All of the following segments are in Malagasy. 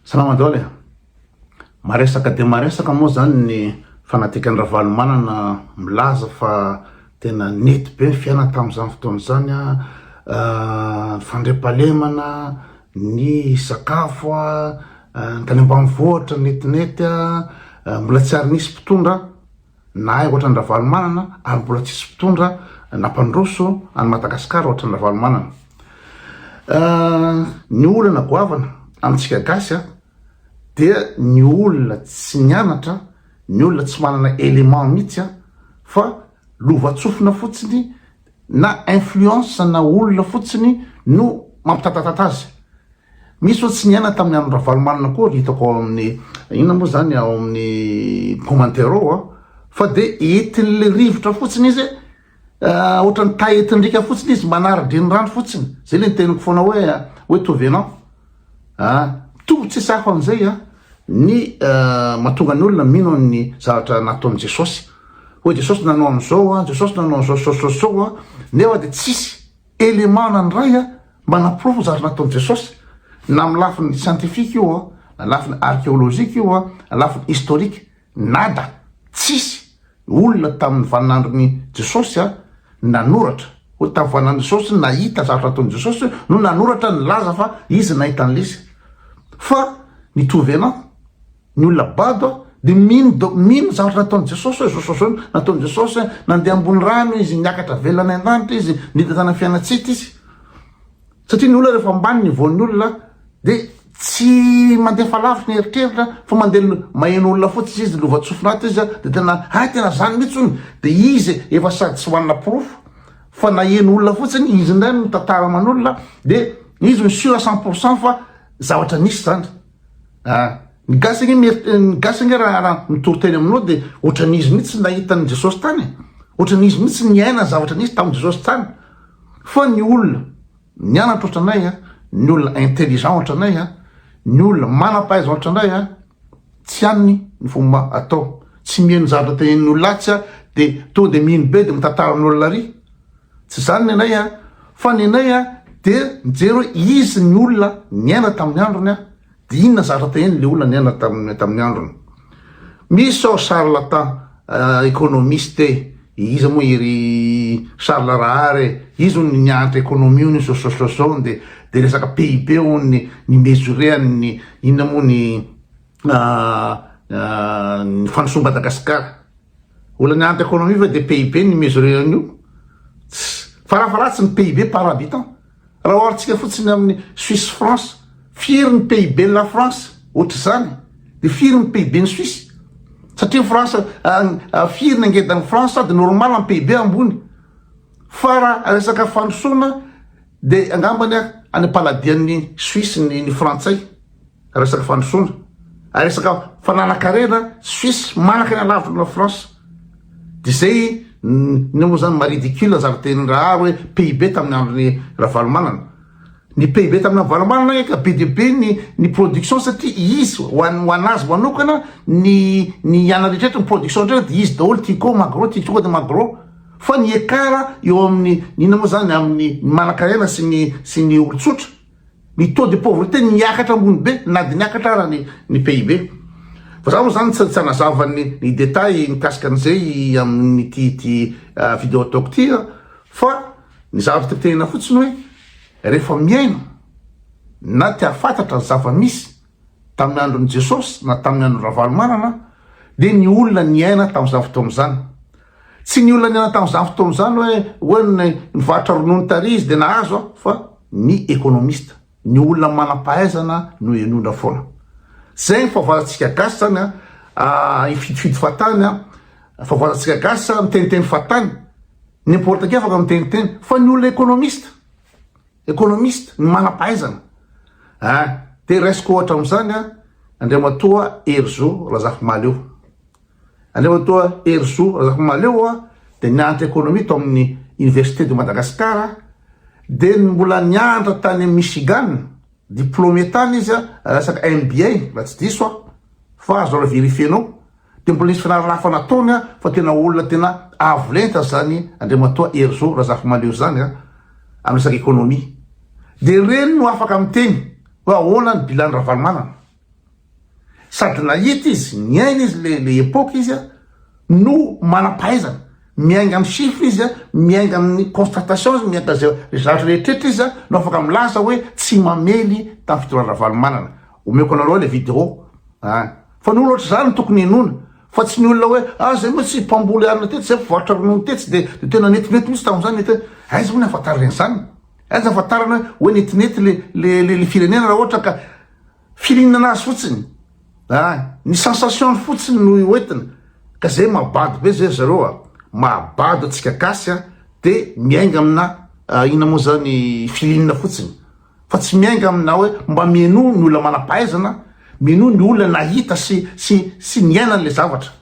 Salama Daholo e! Maresaka dia maresaka moa izany ny fanadikan'i Ravalomanana milaza fa tena nety be ny fiainana tamin'izany fotoana izany, ny fandriampahalemana, ny sakafo, ny tany ambanivohitra netinety, mbola tsy ary nisy mpitondra. Nahay ohatran'i Ravalomanana ary mbola tsisy mpitondra nampandroso an'i Madagasikara ohatran'i Ravalomanana. Ny olana goavana amintsika gasy a, dia ny olona tsy nianatra, ny olona tsy manana élément mihitsy a, fa lovantsofina fotsiny na influence na olona fotsiny no mampitatatata azy, misy oa tsy niaina tamin'ny andron'i Ravalomanana koa ry hitako ao amin'ny inona moa zany ao amin'ny commentaire ao a, fa de entin'le rivotra fotsiny izy eh, ohatran'ny taetin-driaka fotsiny izy manara-drenirano fotsiny, zay le niteniko foana hoe hoe tovenant. Ah, mitovy tsy sahy ho an'izay an, ny mahatonga ny olona mino an'ny zavatra nataon'i Jesosy. Hoe Jesosy nanao an'izao an, Jesosy nanao an'izao zao zao zao an, nefa dia tsisy élément nandray an, mba naporofo ny zavatra nataon'i Jesosy. Na amin'ny lafiny scientifique io an, na lafiny archéologique io an, na lafiny historique. Nada, tsisy, olona tamin'ny vaninandron'i Jesosy a, nanoratra, hoy tamin'ny vaninandron'i Jesosy, nahita zavatra nataon'i Jesosy, no nanoratra nilaza fa izy nahita an'lesy. Fa ny trouvena, ny olona bado a, dia mino da, mino zavatra nataon'i Jesosy hoe zao, zao, zao nataon'i Jesosy, nandeha ambony rano izy, niakatra velona any an-danitra izy, nidina tany amin'ny fiainantsita izy. Satria ny olona rehefa ambany ny voan'ny olona dia tsy mandefa lavitry ny eritreritra fa mandeha maheno olona fotsiny izy lova tsofina ato izy dia tena hay tena zany mihitsy hono dia izy efa sady tsy manana porofo fa naheno olona fotsiny izy indray no mitantara aman'olona dia izy no sûr à cent pour cent fa zavatra nisy zany ah Ny gasy ange mieritre ny gasy ange raha raha mitory teny aminao dia ohatran'izy mihitsy tsy nahita an'i Jesosy tany e. Ohatran'izy mihitsy tsy niaina ny zavatra nisy tamin'i Jesosy tany. Fa ny olona nianatra ohatranay a, ny olona intelligent ohatranay a, ny olona manam-pahaizana ohatranay a, tsy haniny ny fomba atao. Tsy miheno ny zavatra tenenin'ny olona atsy a dia tonga dia mino be dia mitantaran'olona ary. Tsy izany ny anay a. Fa ny anay a dia mijery hoe izy ny olona niaina tamin'ny androny a. Dia inona zatra teo eny le olona niaina tamin'ny tamin'ny androny? Misy sao charlatan economiste e, iza moa i ry Charles Rahary e, izy hono nianatra economie hono izy sososososoo hono dia dia resaka PIB hono ny ny mesurer-ny ny inona moa ny ny fandrosoan'i Madagasikara. Olona nianatra economie ve dia PIB no hi-mesurer an'io? Tss! Farafaharatsiny PIB par habitant. Raha oharintsika fotsiny amin'ny Suisse France, firy ny PIB-n'i La France? Ohatr'izany. Dia firy ny PIB-n'i Suisse? Satria ny France, firy ny angedan'i France? Sady normal ny PIB ambony. Fa raha resaka fandrosoana dia angambany any am-paladian'ny Suisse ny Frantsay. Resaka fandrosoana, resaka fananan-karena Suisse manaka ny alavitra aminao France. Dia izay ny moa izany ma ridicule zary teny rahary hoe PIB tamin'ny andron'ny Ravalomanana. Ny PIB tamin'ny Ravalomanana anie ka be dia be ny ny production satria izy ho an- ho anazy manokana ny ny iana rehetra eto ny production rehetra dia izy daholo Tico, Magro, Tico dia Magro. Fa ny écart eo amin'ny inona moa izany amin'ny ny manan-karena sy ny sy ny olon-tsotra. Ny taux de pauvreté niakatra ambony be na dia niakatra ara ny ny PIB. Fa za moa zany tsy tsy hanazava ny ny détails mikasika an'izay amin'ity ity vidéo ataoko ity an! fa ny zavatra tiako tenenina fotsiny hoe rehefa mihaino na te-hahafantatra ny zava-misy Tamin'ny andron'i Jesosy na tamin'ny andron'i Ravalomanana dia ny olona niaina tamin'izany fotoana izany. Tsy ny olona niaina tamin'izany fotoana izany hoe hoe ny nivarotra ronono taria izy dia nahazo a fa ny ekonomista, ny olona manam-pahaizana no henondra foana. Zay ny fahavaratsika gasy zany a, ah, ifidifity fahatany a, fahavaratsika gasy a, miteniteny fahatany, n'importe qui afaka miteniteny fa ny olona ekonomista. Economiste, ny manam-pahaizana. An, dia raisiko ohatra amin'izany an, Andriamatoa Herizo Razafimahaleo. Andriamatoa Herizo Razafimahaleo an, dia nianatra economie tao amin'ny Université de Madagascar, dia mbola nianatra tany amin'i Michigan, diplômé tany izy an, resaka MBA, raha tsy diso aho, fa azonareo verifier-nao. Dia mbola hisy fianarana hafa nataony an, fa tena olona tena avo lenta izany Andriamatoa Herizo Razafimahaleo izany an, amin'ny resaka économie. Dia ireny no afaka miteny hoe ahoana ny bilan-n'i Ravalomanana. Sady nahita izy, niaina izy ilay ilay époque izy an, no manam-pahaizana. Miainga amin'ny chiffres izy an, miainga amin'ny constatation izy, miainga izay zavatra rehetra rehetra izy an, no afaka milaza hoe tsy mamely tamin'ny fitondrana Ravalomanana. Omeko anareo le video a! Fa ny olona ohatr'izany no tokony henoina fa tsy ny olona hoe ah zay moa tsy mpamboly arina tetsy, zay mpivarotra ronono tetsy de de tena netinety mihitsy tamin'izany mety hoe aiza moa ny ahafantarana an'izany? Aiza ahafantarana hoe hoe netinety le le le le firenena raha ohatra ka firinana azy fotsiny a! Ny sensation-ny fotsiny no hoentina ka zay mahabado be zay ry zareo a! Mahabado antsika gasy a! De miainga amina inona moa zany firinana fotsiny. fa tsy miainga amina hoe mba mihainoa ny olona manam-pahaizana, mihainoa ny olona nahita sy sy sy niaina an'ilay zavatra.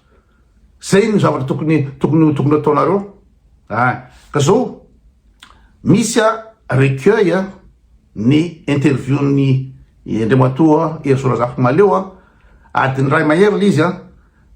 Zay no zavatra tokony tokony tokony ataonareo a! Ka zao misy a recueil a ny interview-n'i Andriamatoa Hery Sorazafimahaleo a, adiny iray mahery le izy a.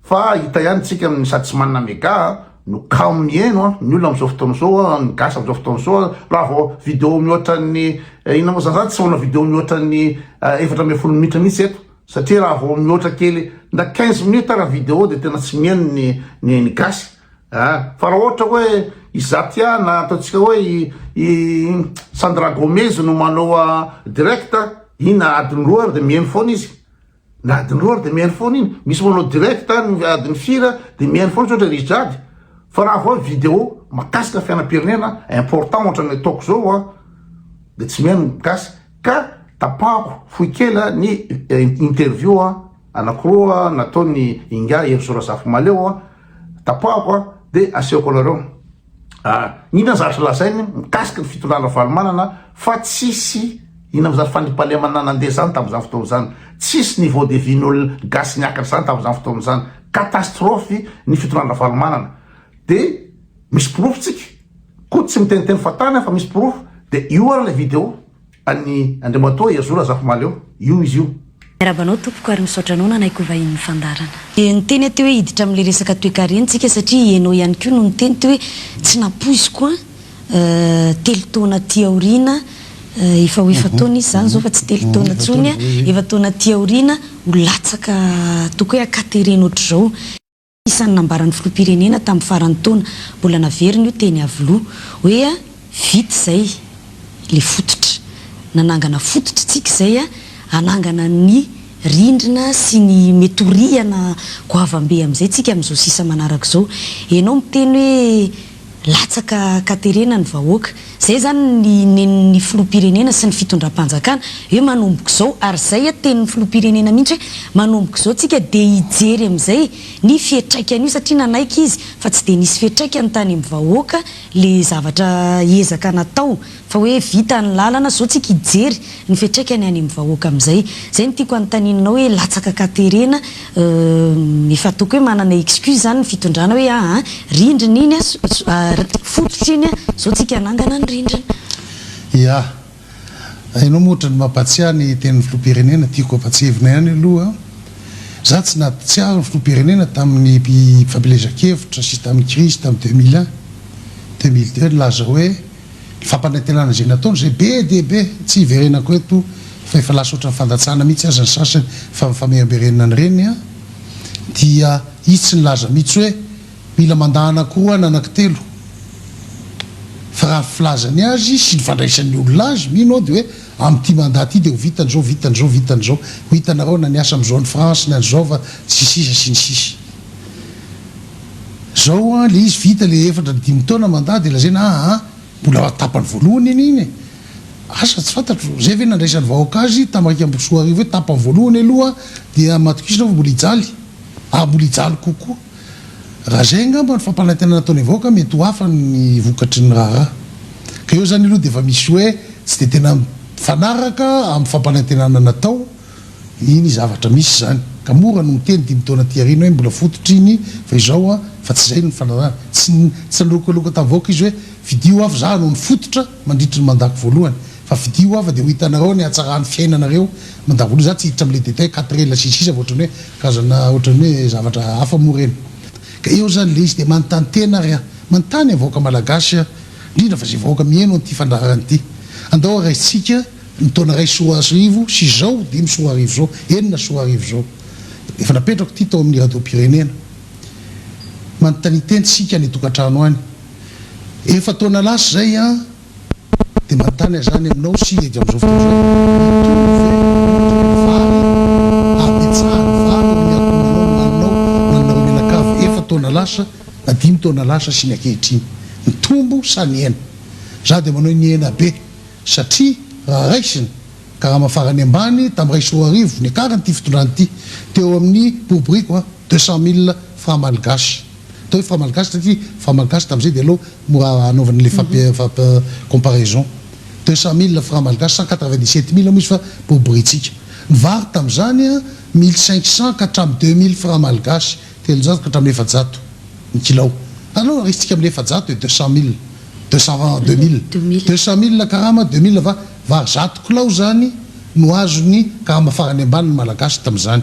Fa hita ihany tsika amin'ny sady tsy manana mega no kamo mihaino an, ny olona amin'izao fotoana izao an, ny gasy amin'izao fotoana izao an, raha vao video mihoatra ny inona moa zany, za tsy manao video mihoatra ny efatra ambin'ny folo minitra mihitsy eto satria raha vao mihoatra kely na quinze minutes ara video dia tena tsy mihaino ny ny ny gasy an, fa raha ohatra hoe i Zatia na ataontsika hoe i i Sandra Gomez no manao direct, iny na adiny roa ary dia mihaino foana izy. Na adin'ny roa ary dia mihaino foana iny. Misy manao direct any ny adin'ny firy dia mihaino foana tsotra ry Jade. Fa raha vao vidéo mahakasika fiainam-pirenena important ohatra ny ataoko zao an dia tsy mihaino ny gasy ka tapahako fohy kely ny interview anakiroa nataon'i Ingahy Hery Sorazafimaleo an tapahako an dia asehoko anareo. Inona ny zavatra lazainy mikasika ny fitondrà Ravalomanana fa tsisy inona moa zany fandriampahalemana nandeha zany tamin'izany fotoana izany, tsisy niveau de vie n'olona gasy niakatra zany tamin'izany fotoana izany, catastrophe ny fitondrà Ravalomanana de misy porofo tsika, koa tsy miteniteny fa tany aho fa misy porofo de io ary ilay video. An'i Andriamatoa Yazoo Razafimahaleo io izy io. Miarahaba anao tompoko ary misaotra anao nanaiky ho vahinin'ny fandaharana. Dia niteny aho teo hoe hiditra amin'ilay resaka toekarentsika satria ianao ihany koa no niteny teo hoe tsy nampoiziko an, telo taona aty aoriana, efa ho efa taona izy izany izao fa tsy telo taona intsony an, efa taona aty aoriana ho latsaka toaka hoe ankaterena ohatr'izao. Isan'ny nambaran'ny filoham-pirenena tamin'ny faran'ny taona, mbola naveriny io teny Iavoloha, hoe vita izay ilay fototra. Nanangana fototra isika izay hanangana ny rindrina sy ny mety ho rihana goavambe amin'izay isika amin'izao sisa manaraka izao. Ianao miteny hoe. Latsaka katerena ny vahoaka. Zay zany ny nen'ny filoham-pirenena sy ny fitondram-panjakana hoe manomboka izao ary zay anie tenin'ny filoham-pirenena mihitsy hoe manomboka izao tsika dia hijery amin'izay ny fiatraikan'io satria nanaiky izy fa tsy dia nisy fiatraikany tany amin'ny vahoaka le zavatra ezaka natao fa hoe vita ny lalana zao tsika hijery ny fiatraikany any amin'ny vahoaka amin'izay, zay no tiako anontanianao hoe latsaka ka terena euh efa ataoko hoe manana excuse zany ny fitondrana hoe aa rindrina iny a fototra iny a zao tsika hanangana ny rindrina. Ya. Enao moa otrany mampatsiahy ny tenin'ny filoham-pirenena, tiako ampatsihevina ihany aloha, za tsy natsiahy ny filoham-pirenena tamin'ny fampielezan-kevitra sy tamin'ny crise tamin'ny deux mille un, deux mille deux nilaza hoe, Fampanantenana izay nataony izay be dia be, tsy hiverenako eto fa efa lasa ohatran'ny fandatsahana mihitsy aza ny sasany fa mifamerimberenina ny reniny an! dia itsy nilaza mihitsy hoe mila mandà anako roa na anako telo fa raha ny filazany azy sy ny fandraisan'ny olona azy mino aho dia hoe amin'ity mandà ity dia ho vita an'izao, vita an'izao, vita an'izao, ho hitanareo na ny asa amin'izao any France, ny an'izao fa sy ny sisa sy ny sisa. Zao an le izy vita le efatra ny dimy taona mandat de lazaina aa mbola tapany voalohany anie iny e! Asa tsy fantatro zay ve nandraisan'ny vahoaka azy tam raika ambin'ny folo sy roa arivo hoe tapany voalohany aloha dia matokisina fa mbola hijaly ary mbola hijaly kokoa. Raha zay angamba ny fampanantenana ataon'ny vahoaka mety ho hafa ny vokatry ny raharaha. Ka eo zany aloha dia efa misy hoe tsy dia tena mifanaraka amin'ny fampanantenana natao Nini, Zavatra misy izany, ka mora ny miteny dimy taona aty aoriana hoe mbola fototry iny fa izao an, fa tsy izay ny fanarahana. Tsy nilokalokaloka tamin'ny vahoaka izy hoe fidio aho fa za no nifototra mandritry ny mandako voalohany, fa fidio aho fa dia ho hitanareo ny hatsaran'ny fiainanareo mandako voalohany. Za tsy hiditra amin'ilay détail quatre ela sy ny sisa fa ohatran'ny hoe karazana ohatran'ny hoe zavatra hafa moa ireny. Ka eo izany ilay izy dia manontany tena ary aho, manontany ny vahoaka malagasy aho, indrindra fa izay vahoaka miheno an'ity fandaharana ity. Andao haraisintsika. Ny taona iray sy roa arivo sy izao, dimy sy roa arivo izao, enina sy roa arivo izao. Efa napetrako ity tao amin'ny radiom-pirenena. Manontania teny isika any an-tokantrano any. Efa taona lasa izay an! Dia manontania izany aminao sy edy amin'izao fotoana izao hoe, Mitohy ve ny otrikain'ny vary? Habetsaha ny vary eo amin'ny ankohonanao nohaninao ho anareo mianakavy efa taona lasa na dimy taona lasa sy ny ankehitriny? Nitombo sa nihena? Izaho dia manao hoe nihena be. satria raha raisina, karama farany ambany tamin'ny iray sy roa arivo niakaran'ity fitondrana ity, teo amin'ny boriboriko an, deux cent mille francs malgaches. Atao hoe francs malgaches satria francs malgaches tamin'izay dia aleo mora hanaovana ilay fampi comparaison. Deux cent mille francs malgaches, cent quatre vingt dix sept mille moa izy fa boriborintsika. Ny vary tamin'izany an, mille cinq cents ka hatramin'ny deux mille francs malgaches. Telonjato ka hatramin'ny efajato ny kilao. Aleo arisitsika amin'ny efajato e, deux cent mille, deux cent vin, deux mille. Deux mille. Deux cent mille karama, deux mille va, var zato kilao izany no azon'ny karama farany ambany ny Malagasy tamin'izany.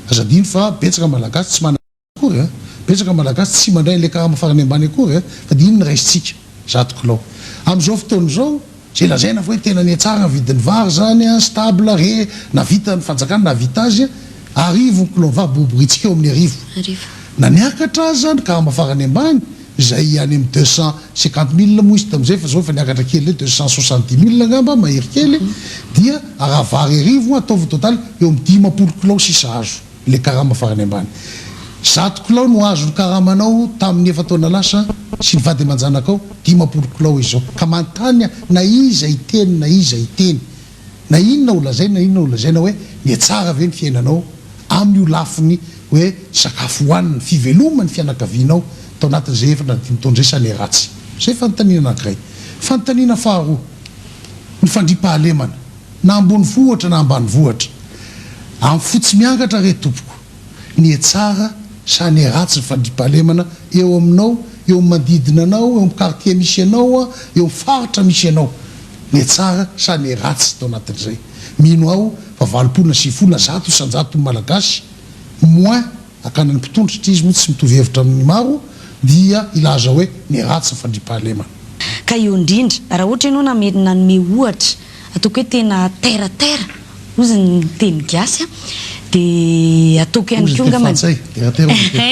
Aza adino fa betsaka Malagasy tsy manana akory a! Betsaka Malagasy tsy mandray an'ilay karama farany ambany akory a! Fa dia iny no raisintsika. Zato kilao. Amin'izao fotoana izao, izay lazaina fa hoe tena nihatsara ny vidin'ny vary izany, stable re, nahavitan'ny fanjakana nahavita azy, arivo ny kilao vary, boriboritsika eo amin'ny arivo. Na niakatra aza ny karama farany ambany, izay any amin'ny deux cent cinquante mille moa izy tamin'izay, fa izao efa niakatra kely indray, deux cent soixante dix mille angamba, mahery kely, dia araha vary arivo, ataovy total eo amin'ny dimampolo kilao sisa azo. ilay karama farany ambany. Zato kilao no azon'ny karamanao tamin'ny efa-taona lasa sy ny vady aman-janakao dimampolo kilao izao. Ka manontany aho na iza hiteny na iza hiteny, na inona ho lazaina na inona ho lazaina hoe mihatsara ve ny fiainanao amin'io lafiny hoe sakafo hohanina, fiveloman'ny fianakavianao tao anatin'izay efatra na dimy taon'izay sa ny ratsy? Izay fanontaniana anankiray. Fanontaniana faharoa, ny fandriampahalemana. Na ambonivohitra na ambanivohitra, amin'ny fo tsy miangatra re tompoko, ny he tsara sa ny he ratsy ny fandriampahalemana eo aminao, eo amin'ny manodidina anao, eo amin'ny quartier misy anao, eo amin'ny faritra misy anao. Ny he tsara sa ny he ratsy tao anatin'izay. Mino aho fa valopolo na sivifolo na zato isan-jaton'ny Malagasy, moins, Akany ny mpitondra satria izy moa tsy mitovy hevitra amin'ny maro dia hilaza hoe ny ratsy ny fandriampahalemana. Ka eo indrindra raha ohatra ianao namery nanome ohatra ataoko hoe tena terre à terre ozy ny teny gasy a dia ataoko ihany koa angambany Ozy ny teny frantsay, terre à terre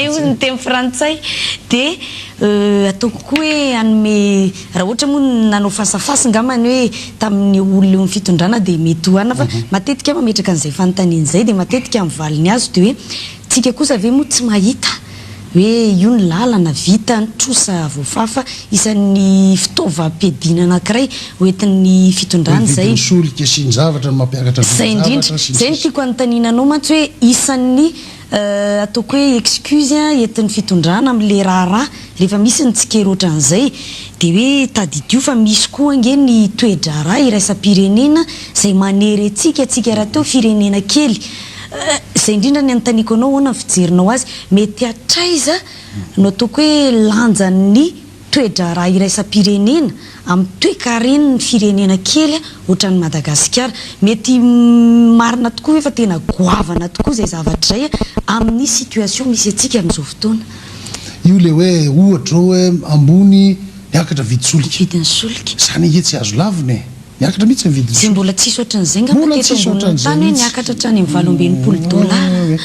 ozy ny teny frantsay, ozy ny teny frantsay dia ataoko koa hoe hanome Raha ohatra moa ny nanao face à face angamba ny hoe tamin'ny olona eo amin'ny fitondrana dia mety oharina fa matetika aho mametraka an'izay fanontaniana izay dia matetika ny valiny azo dia hoe tsika kosa ve moa tsy mahita hoe io ny lalana vita ny trosa voafafa isan'ny fitaovam-piadiana anankiray ho entin'ny fitondrana izay. Ny vidin'ny solika sy ny zavatra no mampiakatra vidin'ny zavatra sy ny sisa. Izay no tiako anontaniana anao mantsy hoe isan'ny ataoko hoe excuse entin'ny fitondrana amin'ilay raharaha rehefa misy ny tsikera ohatran'izay dia hoe tadidio fa misy koa ange ny toe-draharaha iraisam-pirenena izay manery antsika, antsika rahateo firenena kely izay indrindra ny anontaniako anao ahoana ny fijerinao azy? mety hatraiza no ataoko hoe lanjan'ny toe-draharaha iraisam-pirenena amin'ny toekaren'ny firenena kely ohatran'i Madagasikara. Mety marina tokoa ve fa tena goavana tokoa izay zavatra izay amin'ny situation misy antsika amin'izao fotoana? Io ilay hoe ohatra izao hoe ambony miakatra vidy solika. Vidin'ny solika. Izany ange tsy azo lavina e! Miakatra mihitsy ny vidin'ny solika. Izay mbola tsisy ohatran'izay ngamba teto ambonin'ny tany hoe niakatra hatrany amin'ny valo amby enimpolo dollars.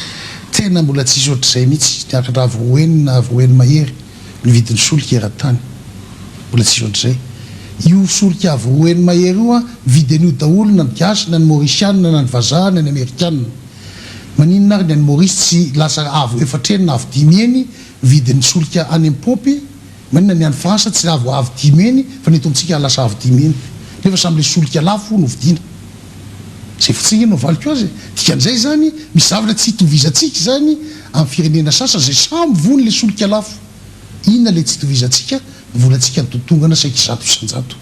Tena mbola tsisy ohatr'izay mihitsy, niakatra avo enina, avo eny mahery. ny vidin'ny solika eran-tany. Mbola tsisy ohatr'izay. Io solika avo roa heny mahery io an, mividy an'io daholo na ny gasy na ny mauritianina na ny vazaha na ny amerikanina. Maninona ary ny any Maurice tsy lasa avo efatra heny na avo dimy heny ny vidin'ny solika any amin'ny paompy? Maninona ny any France tsy avo avo dimy heny fa ny eto amintsika lasa avo dimy heny? Nefa samy ilay solika lafo no vidiana. Izay fitsingana no avaliko azy e! Dikan'izay izany, misy zavatra tsy itovizantsika izany amin'ny firenena sasany izay samy voany ilay solika lafo. Inona ilay tsy itovizantsika? Ny volantsika nitotongana saiky zato isan-jato.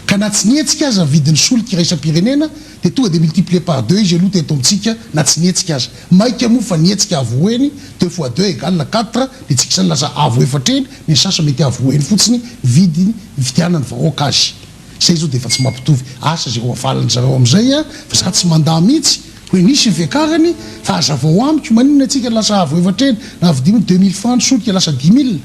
Ka na tsy nihetsika aza ny vidin'ny solika iraisam-pirenena dia tonga dia multiplier par deux izy aloha teto amintsika na tsy nihetsika aza. Maika moa fa nihetsika avo roa eny, deux fois deux égale quatre, dia tsika izany lasa avo efatra eny, ny sasany mety avo roa eny fotsiny ny vidiny nividianan'ny vahoaka azy. Zay zao dia efa tsy mampitovy asa izay hohavalin'ny zareo amin'izay an! Fa za tsy mandà mihitsy hoe nisy ny fiakarany fa hazavao amiko maninona antsika lasa avo efatra eny na vidiano hoe deux mille francs ny solika lasa dix mille?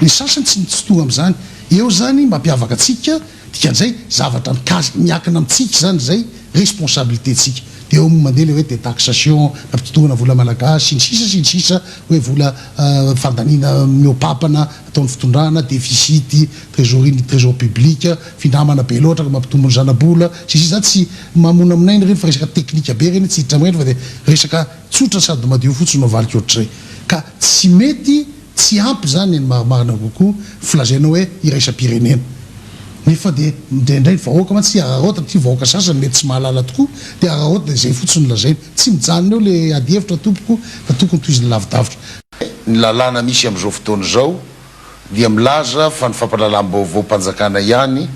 Ny sasany tsy mitsitoha amin'izany. Eo izany mampiavaka antsika, dikan'izay zavatra mikasika, miankina amintsika izany izay, responsabilité-ntsika. Dia eo mandeha ilay hoe détaxation na fitontoana vola malagasy sy ny sisa sy ny sisa hoe vola fandaniana mihoa-papa na ataon'ny fitondrana, déficit, Trésorerie ny trésor public, finamana be loatra ka mampitombo ny zanabola, sy ny sisa Za tsy mamonamonaina ireny fa resaka teknika be ireny tsy hiditra amin'ireny fa dia resaka tsotra sady madio fotsiny no avaliko ohatr'izay. Ka tsy mety tsy ampy izany ny marimarina kokoa filazaina hoe iraisam-pirenena. Nefa dia indraindray ny vahoaka mantsy tsy hararaotina satria vahoaka sasany mety tsy mahalala tokoa dia hararaotina dia izay fotsiny no lazaina. Tsy mijanona eo ilay adihevitra tompoko fa tokony tohizina lavidavitra. Ny lalàna misy amin'izao fotoana izao. dia milaza fa ny fampahalalam-baovaom-panjakana ihany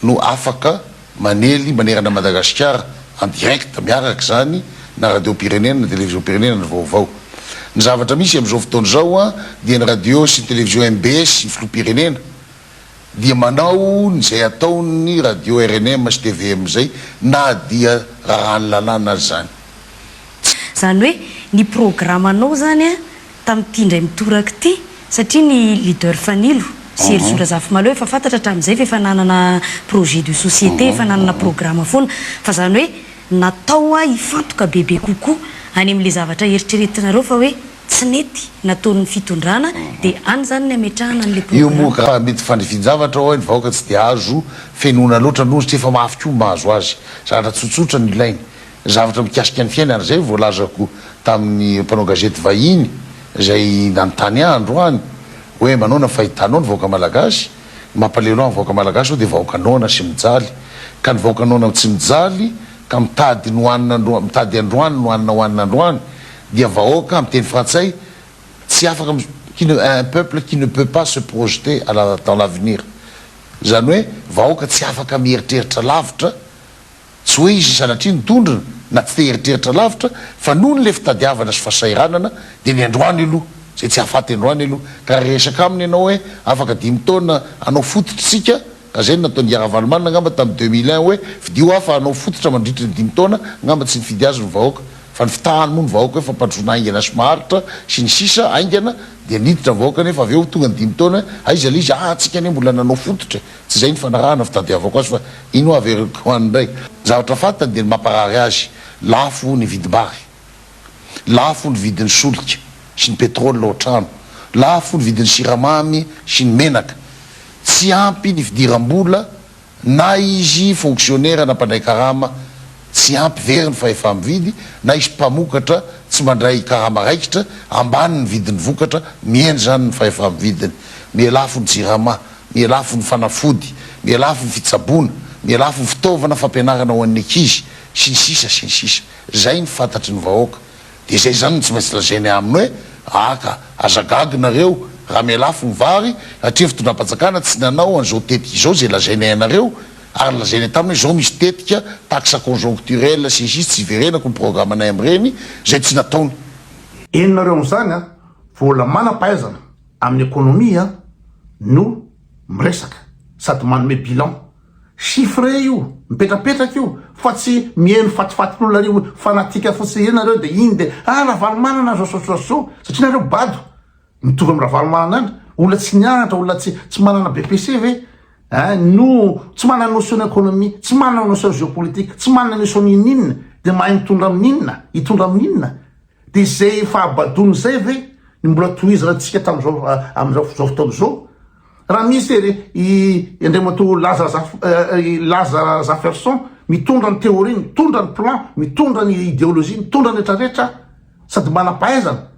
no afaka manely manerana Madagasikara en direct miaraka izany na radiom-pirenena na televiziom-pirenena ny vaovao. Ny zavatra misy amin'izao fotoana izao dia ny radio sy ny televizio mbs ny filoham-pirenena dia manao ny izay ataon'ny radio rnm sy tvm izay na dia rarahan'ny lalàna aza izany. Tsy. Izany hoe ny programanao izany. tamin'ity indray mitoraka ity satria ny leader Fanilo sy Herisoa Razafimalo efa fantatra hatramin'izay fa efa nanana projet de société, efa nanana programa foana fa izany hoe natao hoa hifantoka bebe kokoa any amin'ilay zavatra eritreretinareo fa hoe tsy nety nataon'ny fitondrana dia any izany ny hametrahana an'ilay Io moa programa. ka mety fandrifin-javatra hoy ny vahoaka tsy dia azo fenoina loatra noho izy tsy efa mafy koa ny mahazo azy. Zavatra tsotsotra no ilainy. Zavatra mikasika ny fiainana izay voalazako tamin'ny mpanao gazety vahiny izay nanontany ahy androany hoe manaona ny fahitanao ny vahoaka malagasy? Ny mampalelo ahy amin'ny vahoaka malagasy izao dia vahoaka noana sy mijaly ka ny vahoaka noana tsy mijaly ka mitady ny hohanina mitady androany ny hohanina hohanina androany dia vahoaka amin'ny teny frantsay tsy afaka qui ne un peuple qui ne peut pas se projeter à la dans l'avenir izany hoe vahoaka tsy afaka mieritreritra lavitra Tsy hoe izy sanatria no tondrona na tsy te hieritreritra lavitra fa noho ny le fitadiavana sy fasahiranana dia ny androany aloha izay tsy hahafaty androany aloha ka raha hiresaka aminy ianao hoe afaka dimy taona hanao fototry tsika ka izay no nataon dry Ravalomanana angamba tam deux mille un hoe fidio aho fa hanao fototra mandritry ny dimy taona angamba tsy nifidy azy ny vahoaka fa ny fitahany moa ny vahoaka hoe fampandrosoana haingana sy maharitra sy ny sisa haingana dia niditra ny vahoaka nefa avy eo tonga ny dimy taona aiza le izy aa tsika anie mbola nanao fototra e. Tsy izay ny fanarahana fitadiavako azy fa iny hoa averiko ho any indray. Zavatra fantany dia ny mamparary azy, lafo ny vidim-bary, lafo ny vidin'ny solika sy ny petrol ao an-trano, lafo ny vidin'ny siramamy sy ny menaka, tsy ampy ny fidiram-bola na izy fonksionera na mpandray karama tsy ampy very ny fahefa-mividy na izy mpamokatra tsy mandray karama raikitra, ambany ny vidin'ny vokatra, mihena izany ny fahefa-mividiny, miha lafo ny jirama. ny lafiny fanafody, ny lafiny fitsaboana, ny lafiny fitaovana fampianarana ho an'ny ankizy, sy ny sisa sy ny sisa. Izay no fantatry ny vahoaka. Dia izay izany no tsy maintsy lazainay aminy hoe, aka, aza gaga nareo, raha miha lafo ny vary, satria ny fitondram-panjakana tsy nanao an'izao tetika izao izay lazainay anareo, ary nolazainay taminy hoe izao misy tetika taxe conjoncturelle sy ny sisa tsy hiverenako ny programanay amin'ireny, izay tsy nataony. Eny nareo amin'izany a! Vola manam-pahaizana, amin'ny ekonomia no miresaka sady manome bilan. Chiffre io, mipetrapetraka io fa tsy mihaino fatifatin'olona ry fanatique fotsiny ireny nareo dia iny dia ah Ravalomanana zao zao zao zao satria nareo bado mitovy amin'ny Ravalomanana any, olona tsy nianatra, olona tsy tsy manana BPC ve eh no tsy manana notion ekonomia, tsy manana notion geopolitique, tsy manana notion n'inon'inona dia mahay mitondra amin'inona, hitondra amin'inona Dia izay fahabadoana izay ve no mbola tohizanantsika tamin'izao amin'izao fotoana izao? Raha misy ery i Andriamatoa Laza Laza Zaferson mitondra ny théorie, mitondra ny plan, mitondra ny idéologie, mitondra ny rehetra rehetra sady manam-pahaizana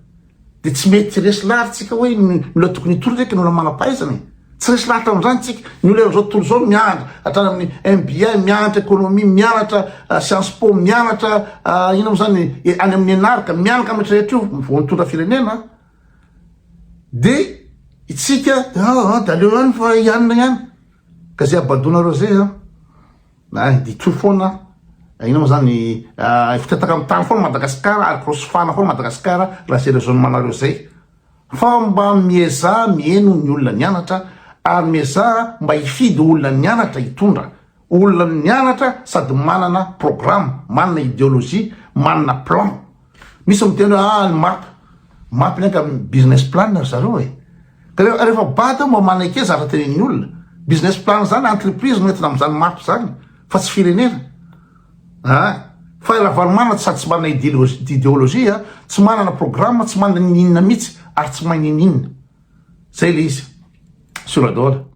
dia tsy mety resy laharitsika hoe ny olona tokony hitondra eky ny olona manam-pahaizana e! Tsy resy lahatra amin'izany isika. Ny olona amin'izao tontolo izao miandry hatrany amin'ny MBA, mianatra ekonomia, mianatra science po, mianatra inona moa izany any amin'ny ENAR ka, mianaka amin'ny rehetra rehetra io vao nitondra firenena an! Dia isika an, dia aleo ihany fa hianina ihany ka izay habadoanareo izay an, na hiditro foana an, inona moa izany fitataka amin'ny tany foana Madagasikara ary korosofana foana Madagasikara raha izay rezônemanareo izay. Fa mba miezaha miheno ny olona nianatra ary miezaha mba hifidy olona nianatra hitondra. Olona nianatra sady manana programme, manana ideologie, manana plan. Misy miteny hoe ah ny map, map ny anga business plan ry zareo e. Ka rehefa bado mba maneke zavatra tenenin'ny olona. Business plan zany entreprise no entina amin'izany map zany fa tsy firenena. Aa! Fa i Ravalomanana sady tsy manana ideologie, tsy manana programme, tsy manana ininona mihitsy ary tsy mahay nininona. Zay le izy. Sura daholo.